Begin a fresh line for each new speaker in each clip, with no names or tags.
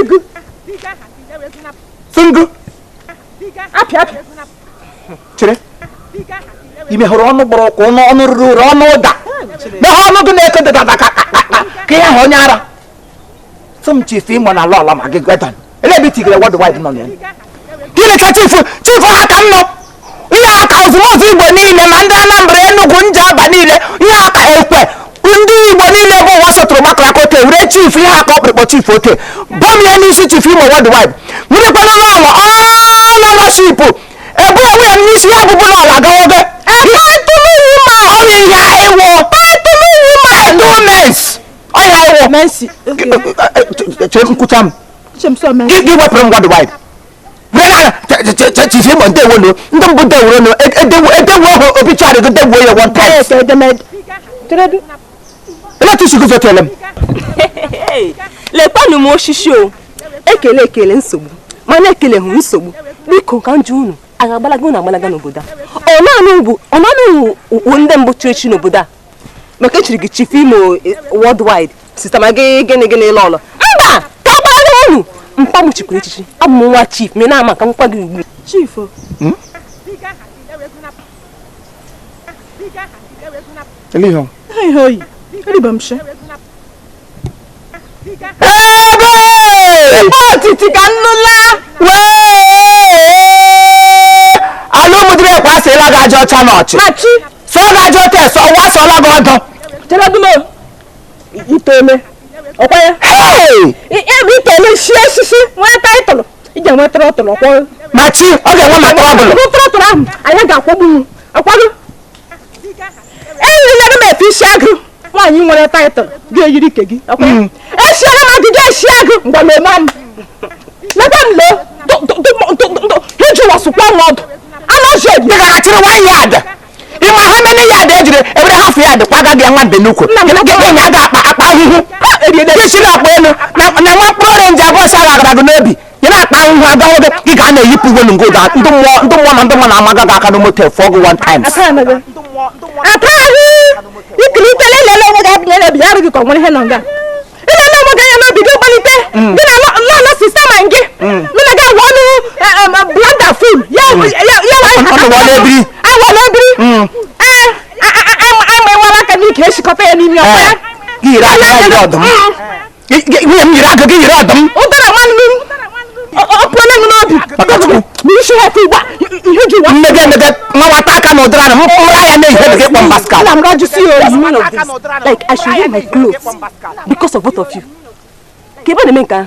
igu tungu
apị
apị chere ime hụrụ ọnụ gbọrọ ụkwụ ọnụ ọnụ ruru uru ọnụ ụda mehe ọnụ gị na-eke dada ka ka ihe ahụ onye ara sọ m chief Imo na lọlọ Maggi gwedan ebe itigere worldwide nọ na ya gịnị ka chief chief ha ka m nọ ihe a ka ozumozu igbo niile ma ndị anambra enugwu Njaba niile ihe a ka ekwe ndị igbo niile bụ ụwa sọtụrụ gbakọrọ aka oke were chief ihe aka ọkpụrụkpọ chief oke bọm ya n'isi chief Imo worldwide nwerekwana n'ụlọ ownership ebu onwe ya n'isi ya bụbụ n'ụlọ agawogo ọrịa ya ịwụ endowments ọya ịwụ Mercy. Okay. Chere m kwuchaa m gị wepụrụ m worldwide chief Imo ndewo no ndị mbụ dewuro no edewo edewo hụ obituary gị dewuo ya one time emetụ isi gị zọtele m
lekwanụ m osisi o ekele ekele nsogbu mana ekele hụ nsogbu biko ka m jụ unu a ga-agbalaga unu agbalaga n'obodo a ọ naanị bụ ọ naanị unu bụ ndị mbụ chiri echi n'obodo a maka echiri gị chief imo eh, worldwide sister Maggi gịnị gịnị lọlọ mba ka agbalaga unu mpa m chikwuru echichi abụ m nwa chief ma ị na-ama ka nkwa gị ugbu
chief hmm?
Ele é
Ebe otiti ka nnụla ala ụmụdịrị ekwe asịla gị aja ọcha n'ọchị machi sọ gị aja ọcha ese ọwa asọla gị ọdọ
cheredumo itole ọkwa ya ebe itole si osisi nwee title ije nwee throttle ọkwa machi ọ ga-enwe
ma trouble tụrụ tụrụ ahụ anyị ga-akwagbu
akwago eyirila m efe isi agụ nwaanyị nwere title ga-eyiri ike gị hmm. esiere m agịga isi agụ mgbe m eme m leta m lee hejụwasụkwa m ọdụ anọzi obi dịgachiri
nwaanyị ada ịma ha mene ya ada ejiri ebere ha fụ ya dị kwaga gị nwa mbe n'ukwu gịnị ya ga-akpa akpa ahụhụ esi na-akpa elu na nwa mkpụrụ orange abụọ si agagara gị n'obi ị na-akpa ahụhụ aga nwoke ị ga na-eyipụ uwe n'ngo ụda ndị mmụọ ndị mmụọ na ndị mmụọ na-amaga gị aka na motel fụọ gị one time ikiri
ikele lele onwe gị adịghị elebi ya arụghị ka ọ nwere ihe nọ nga ị na-eme onwe gị anya n'obi gị gbalite mm. gị na lọlọ sister Maggi mm. mụ na gị awụ ọnụ e, e, e, blender full ya mm. awala ebiri ee ama ịwala aka n'ike echikọta ya n'ime ọkwa
ya nwunye m nyere aka gị
nyere ọdụm ụdara nwanne m ọpụọla m n'obi n'isi ha ka ụgba ihe ji wa mmega emega nwata
aka na ụdara m mụra ya na-ehe gị kpọ m baskal na m rajụsi ya
oyi one of this like I
should wear my clothes because of both of you ka ebe na-eme nke ahụ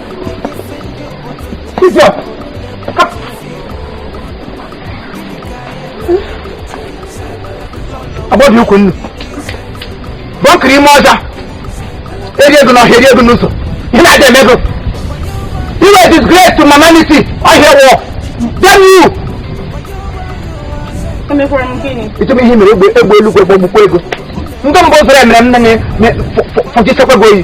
agbọdị ukwu nnu bọnkiri ime ọja eri ego n'ọhịa eri ego n'ụzọ ihe na-adị eme ego you are disgrace to humanity ọhịa wọ damn you ịtụm ihe mere egbe egbe eluigwe gbagbukwa gị o ndị mbụ zụrụ emere m nne na fọjichekwa gị oyi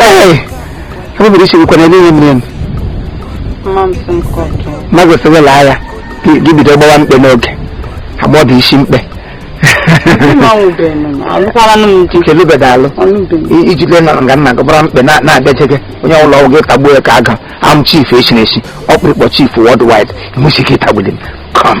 Ee, ebubere isi nkwe na ebe ihe mere ma gosiri laa ya gị gị bido gbawa mkpe n'oge agbọdụ isi mkpe nke lụbeda alụ I- iji lee na nga nna gị gbara mkpe na- na-abịaje gị onye ọbụla ọgwụ gị tagbuo ya ka aga am chief esi na esi ọkpụrịkpọ chief worldwide nwesi gị tagbuli m come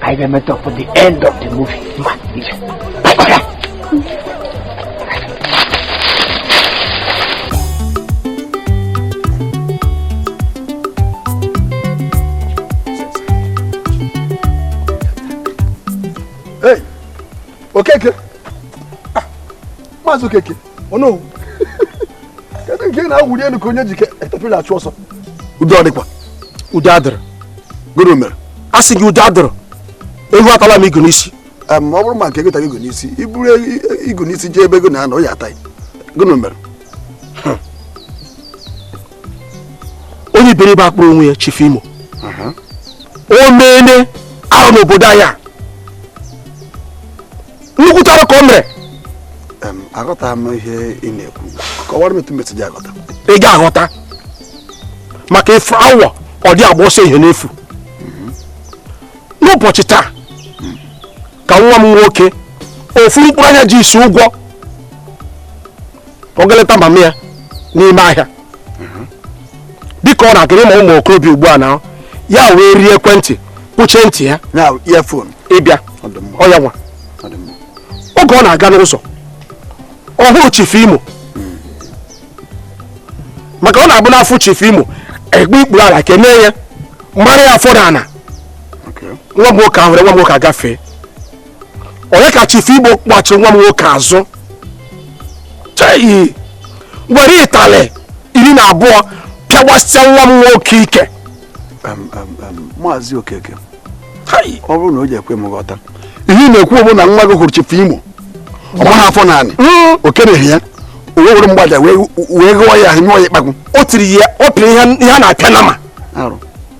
anyị ga-emeet up for the end of the movie mba ije Hey, Okeke. maazị okeke ọnọwu kedu nke ị na-awụli elu ka onye e ji katapila achụ ọsọ udo ọ dịkwa udo adịrọ gịnị mere a sị gị udo adịrọ ewu atala m igu n'isi ọ bụrụ ma nke gị tara igu n'isi i buru igu n'isi jee ebe ewu na-anọ ya ata gịnị mere onye iberibe a kpọrọ onwe ya chifu imo o meene arụ n'obodo anyị a nnukwu arụ ka o mere aghọtarọ m ihe ị na-ekwu kọwara m etu m esi ji aghọta ị ga-aghọta maka ife awọ adị agba ọsọ ehihie n'efu n'ụbọchị taa ka nwa m nwoke ofu mkpụrụ anya ji isi ụgwọ ọ ga-eleta mama ya n'ime ahịa dịka ọ na-aga ị ma ụmụ okorobịa ugbu a na ya were ekwentị kwuchie ntị ya ịbịa ọ ya nwa oge ọ na-aga n'ụzọ ọ hụ chifu imo maka ọ na-abụ na a fụ chifu imo e gbue ikpere ala kenee ya mara ya afọ n'ana nwa nwoke ahụ nwa nwoke agafee onye ka chifu imo gbachi nwa m nwoke azụ chai were ịtalị iri na abụọ pịawasịa nwa m nwoke ike
maazị okeke ọ bụrụ na o ji ekwe m ghọta ihe ị na-ekwu bụ na nwa gị hụrụ chifu imo ọ maghị afọ n'anị hmm. o kereghị ya o wee were mgbaja wee gụọ ya nyụọ ya ịkpakwụ o tiri ya ọ
pịrị ihe a na-apịa nama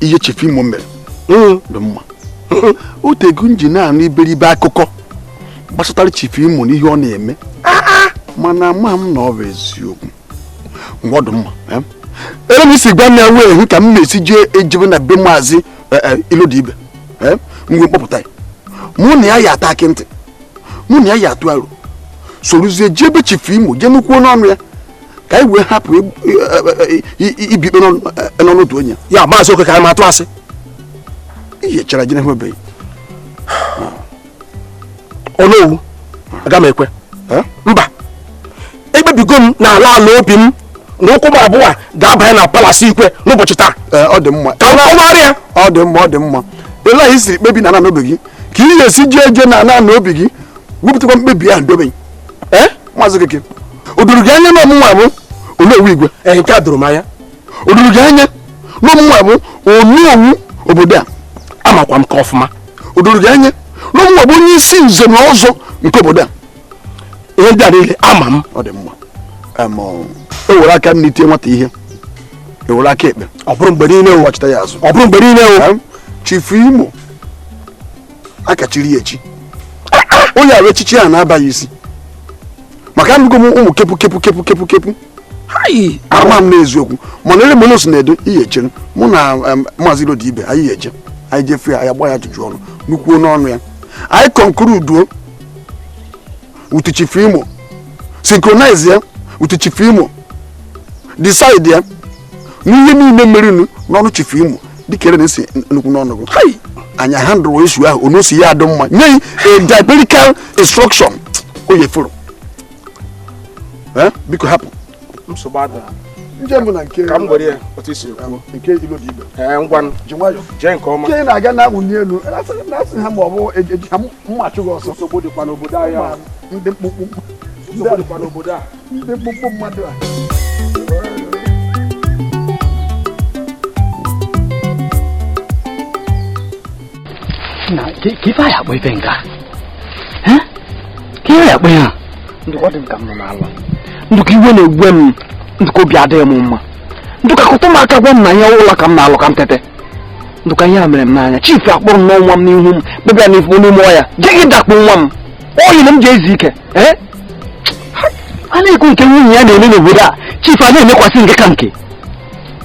ihe chifu imo mere hmm. dị mma otego m ji na-anụ iberibe akụkọ gbasatara chifu imo na ihe ọ na-eme ah, ah. mana ama m na ọ bụ eziokwu ngwa ọ dị mma eh? ere i si gwa m ya wee hụ ka m na-esi jee ejebe na be maazị eh, eh, ilodibe mgbe m kpọpụta ya mụ na ya ya-ata akị ntị mụ na ya ya-atụ aro sorozie jee be chifu imo jee nụkwuo n'ọnụ ya ka anyị wee hapụ ibi ikpe n'ọnụ otu onye ya maazị okeke anyị ma
atụ
asị ihe chara ji n'ihu obeghị
onowu aga m ekwe mba ekpebigo m n'ala ala obi m na ụkwụ m abụọ ga-abanye na palasi igwe n'ụbọchị taa ọ dị mma ka m
kọwara
ya ọ dị mma ọ dị mma
ele i siri kpebi na ala n'obi gị ka ị ga-esi jee eje na ala n'obi gị wepụtakwa mkpebi ahụ dobe eh? maazị okeke o doro gị anya na ọ mụnwa bụ onowu igwe ee nke a doro m
anya o doro gị
anya na ọ mụnwa bụ onowu obodo a amakwa m nke ọfụma
o doro gị anya
na ọ mụnwa bụ onye isi nze na ọzọ nke obodo a ihe
ndị a niile ama m ọ dị
mma e were aka nni tie nwata ihe e were aka ekpe ọ bụrụ mgbe niile ụwa
chịta ya azụ ọ bụrụ mgbe
niile ụwa
chifu imo
a ka chiri ya echi onye arụ echichi a na-abaghị isi maka anụgo m ụmụ kepu kepu kepu kepu kepu ama m n'eziokwu mana ele m na-esi na-edo ihe i chere mụ na maazị ilodibe anyị eje anyị jee fụ ya anyị agba ya ajụjụ ọnụ nụkwuo n'ọnụ ya anyị conclude-uo with Chief Imo synchronize ya with Chief Imo decide ya n'ihe niile merenụ n'ọnụ Chief Imo dịka ere na-esi nụkwuo n'ọnụ gị hai anyị handle issue ahụ onu si ya adị mma nye a diabolical instruction o yefuru biko hapụ nsogbu adịla nje mbụ na nke ka m gwere ya otu i
si kwuo nke ilodibe
ee ngwanụ ji
nwayọ jee nke
ọma nke ị na-aga
na-awụ n'elu
na-asị ha ma ọ bụ e ji ha mma achụ gị ọsọ nsogbu dịkwa n'obodo anyị
a. ndị
mkpụmkpụ nsogbu
dịkwa n'obodo a ndị mkpụmkpụ
mmadụ a
na ka ife anyị akpọ ife nke a ka ihe akpọ ya ndụka dị ka m nọ n'ala ndụka iwe na-ewe m ndụka obi adịghị m mma ndụka kụtụ m aka gwa m na ihe nlọ ka m na-alọ ka m tete ndụka ihe a mere m n'anya chief kpọrọ nwa m n'ihu m bịbịa n'ifu n'ime ahịa je gị dakpo nwa m oyi na m ji ezu ike eh? a na-ekwu nke nwunye ya na-eme n'obodo a chief a na-emekwasị nke ka nke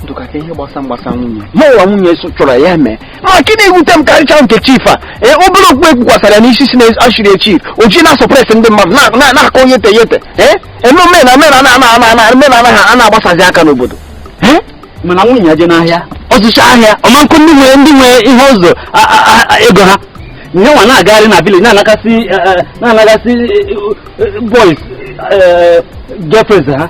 ndụka ka ihe gbasa mgbasa nwunye mụnwa nwunye so chọrọ ya mee ma nke na-ewute m karịcha nke chief a ee obere okpu ekpukwasara ya n'isi sị na echiri chief o ji na-asuppress ndị mmadụ na- na- na-akọ yete yete ee eme omena omena na ana ana ana omena anaghị a na-agbasazi aka n'obodo ee mana nwunye ya jee n'ahịa ọ zụcha ahịa ọ ma akwụ ndị nwe ndị nwe ihe ụgwọ a- a- a- a- ego ha nya nwa na-agagharị na village na-anagasị eh, eh, na-anagasị eh, eh, boys eh, girlfriends ha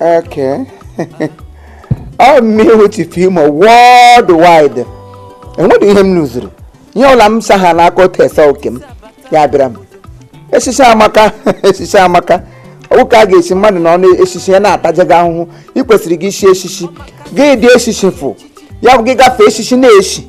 Okay. ọ mụ wụ chief imo worldwide enweghị ihe m zuru ihe ọla m sa ha n'aka otu ese oke m ya bịara m echichi amaka echichi amaka ọ wụ ka a ga-echi mmadụ na ọnụ echichi ya na-ataja gị ahụhụ ị kwesịrị gị ichi echichi gị dị echichi fụ ya bụ gị gafee echichi na-echi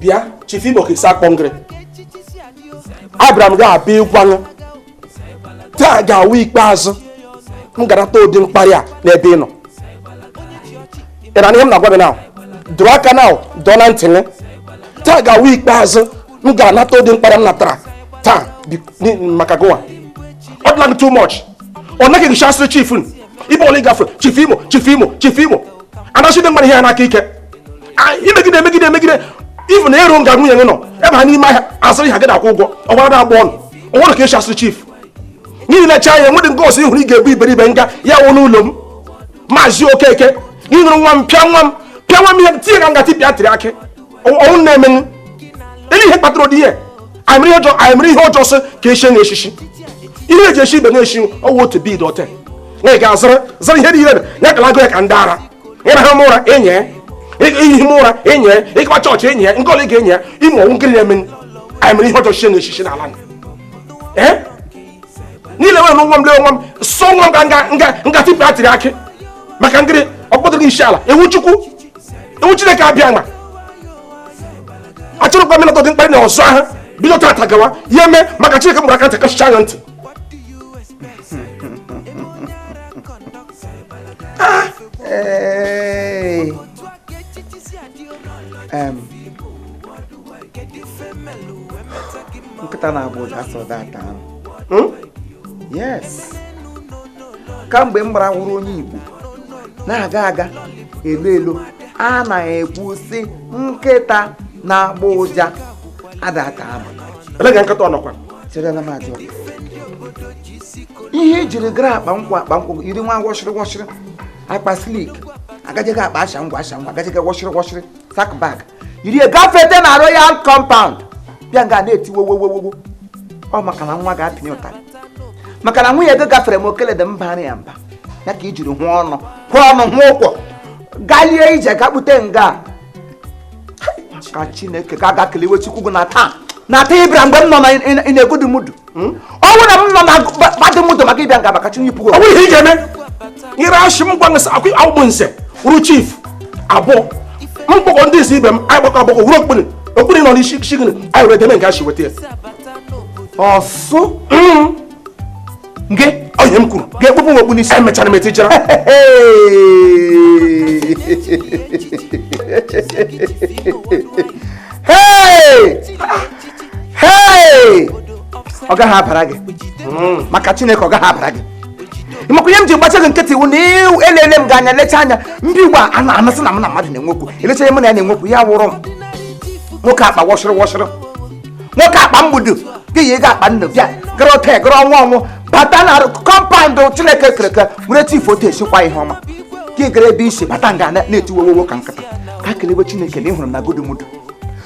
bịa chief imo ka esi akpọ ngịrị abịara m gị abịa ịgwa na taa ga-awụ ikpeazụ m ga-anata ụdị mkparị a n'ebe ị nọ ị na-anụ ihe m na-agwa gị na dọrọ aka na dọọ na ntị gị taa ga-awụ ikpeazụ m ga-anata ụdị mkparị m natara taa maka gịwa ọ dịla gị too much ọ nanị gị ka e chiri chief ebe ọbụla gafee chief imo chief imo chief imo anasị ndị mmadụ ihe ya n'aka ike imegide emegide emegide ifu na ero nga nwunye gị nọ ebe ha n'ime ahịa azụrụ ihe gị na-akwụ ụgwọ ọgwara agba ọnụ ọ wụrụ ka esi echiri chief n'ihi na cha ya enwedị nke ọsọ ihụrụ ị ga-ebu iberibe nga ya wụ n'ụlọ m maazị okeke gị hụrụ nwa m pịa nwa m pịa nwa m ihe tie ya ka nga tipịa tiri akị ọ wụ na-emenụ ele ihe kpatara ụdị ihe anyị mere ihe ọjọọ sị ka echie na echichi ihe eji echi ibe na-echi ọ wụ otu bid ote na ị ga-azụrụ zụrụ ihe niile ya kala agụ ya ka ndị ara ịraha ụra enyi ya ihi m ụra enyi ya ịga chọọchị enyi ya nke ole ga-enyi ya ime ọ wụ ngịrị na-eme anyị mere ihe ọjọọ chie na echichi n'ala niile were nwa m lee nwa m sọ nwa m nga nga nga tipụ atịrị akị maka ngịrị ọ kpọtụrụ isi ala ewu chukwu iwe chineke abịa ma achọrọkwa m ịnata ụdị mkparị a ọzọ ahụ bido tata gawa ihe mee maka chineke mụrụ aka ntị kachicha anya ntị
nkịta na-agba ụja asọ data ahụ hmm? yes kamgbe m gbara wụrụ onye Igbo na-aga aga elu elu a na-ekwu sị nkịta na-agbọ ụja adata ama elega nkịta
ọnọkwa cherela m
ajụ ihe ejiri gara akpa nkwụ akpa nkwụ iri nwa wọshịrị wọshịrị akpa silk agajeghị akpa asha ngwa asha ngwa agajeghị wọshịrị wọshịrị sack bag yiri ya gafete na royal compound bịa nga na-eti wowowowowo ọ maka na nwa ga-apịnye ụtarị maka na nwunye gị gafere m o keledị m bara ya mba ya ka i jiri hụ ọnụ hụ ọnụ hụ ụkwụ galie ije ga kpute nga ka chineke ka a ga kelewe chukwu gị na taa na taa ị bịara mgbe m nọ na good mood hmm? ọ bụrụ na m nọ na bad mood maka ị bịa nga maka chineke ọ bụrụ ihe ị
ga-eme ire achị m gwa nsị akwụ akwụgbụ nse wụrụ chief abụọ m kpọkọ ndị isi ibe m anyị gbakọ agbakọ wụrụ okpu ni okpu ni nọ n'isi gị ni anyị were deme nke achị weta ya
ọsụ
hmm. nke onye m kwuru ga-ekpụpụ m okpu n'isi
emechara m etijara Hey! hei ọ gaghị abara gị hmm. maka chineke ọ gaghị abara gị ị makwa ihe m ji gbacha gị nkịtị wụ na elele m gị anya lecha anya ndị ugbu a na anasị na m na mmadụ na-enwe okwu elechaghị m na ya na-enwe okwu ya wụrụ m nwoke akpa wọshịrị wọshịrị nwoke akpa mgbudu gị yi ga akpa nnu bịa gara ote gara ọnwa ọnwụ bata na compound chineke kere eke were tif otu esikwa ihe ọma gị gara ebe isi bata nga na-eti wowowo ka nkịta ka kelebe chineke na ị hụrụ m na good mood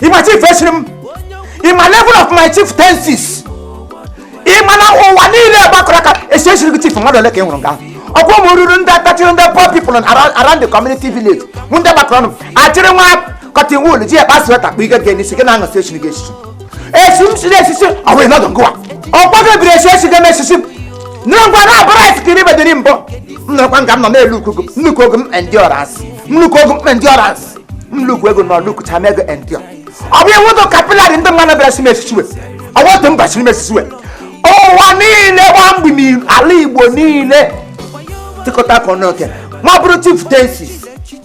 ị ma chief esiri m ị ma level of my chieftaincy ị ma na ụwa niile gbakọrọ aka esi esiri gị chief mmadụ ole ka ị hụrụ nga ọkwa ụmụ ruru ndị atachiri ndị poor people around around the community village mụ ndị gbakọrọ ọnụ achịrị nwa cotton wool ji akpa sweater kpa ike gị n'isi gị na-aṅụ sị esiri gị esisi esi m siri esisi ọ wụghị nọdụ ngụwa ọkwa gị biri esi esi gị eme esisi m nne ngwa na abụrụ esi kiri bediri mbụ m nọkwa nga m nọ n'elu ukuku nnukwu oge m endurance nnukwu oge m endurance nnukwu ego na nnukwu chama ego endio ọ bụ iwu ụdị kapịlarị ndị mmadụ bịara si m esisi ọ bụ otu mba siri m esisi ụwa niile gba mgbe n'ala igbo niile tịkọta aka ọnụ oke ma bụrụ chieftaincy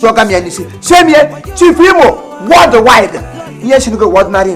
tụọga m ya n'isi chie m chief imo worldwide ihe si n'oge ordinary